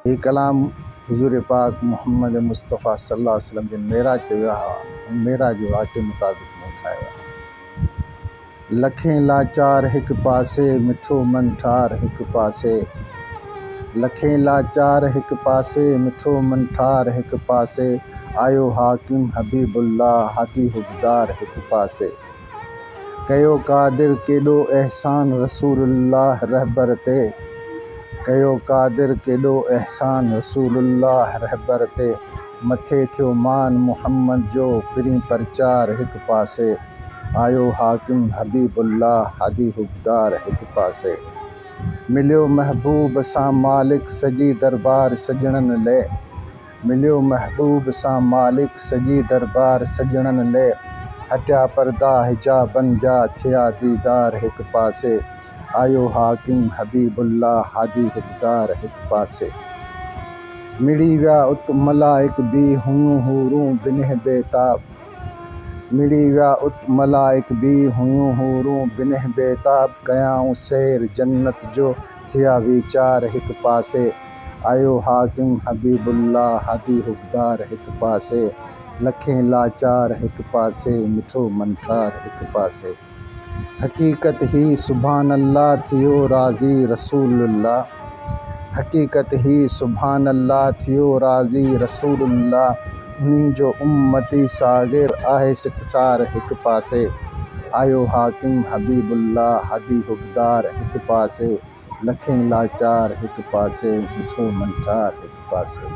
هي ڪلام حضور پاڪ محمد مصطفيٰ صلي الله عليه وسلم جن معراج تي ويا هئا، ان معراج جي واقعي مطابق مون ٺاهيا هئا. لکين لاچار هڪ پاسي، مٺو من ٺار هڪ پاسي. لکين لاچار هڪ پاسي، مٺو من ٺار هڪ پاسي. آيو حاڪم حبيب الله، هادي حبدار هڪ پاسي. ڪيو قادر ڪيڏو احسان رسول الله رهبر تي ڪيو قادر ڪيڏو احسان رسول الله رهبر تي مٿي ٿيو مان محمد جو پرين پرچار هڪ پاسي آيو حاڪم حبيب الله هادي حبدار هڪ پاسي مليو محبوب سان مالڪ سڄي دربار سڄڻن لئه مليو محبوب سان مالڪ سڄي دربار سڄڻن لئه هٽيا پردا حجابن جا ٿيا ديدار هڪ پاسي آيو حاڪم حبيب الله هادي حقدار هڪ پاسي مڙي ويا ات ملائڪ بي هيون حورون بنهه بيتاب مڙي ويا ات ملائڪ بي هيون حورون بنهه بيتاب ڪيائون سير جنت جو ٿيا ويچار هڪ پاسي، آيو حاڪم حبيب الله هادي حقدار هڪ پاسي، لکين لاچار هڪ پاسي، مٺو منٺار هڪ پاسي. حقيقت هي سبحان الله ٿيو راضي رسول الله حقيقت هي سبحان الله ٿيو راضي رسول الله. انهي جو امتي ساغر آهي سڪسار هڪ پاسي آيو حاڪم حبيب الله هادي حقدار هڪ پاسي لکين لاچار هڪ پاسي مٺو منٺار هڪ پاسي.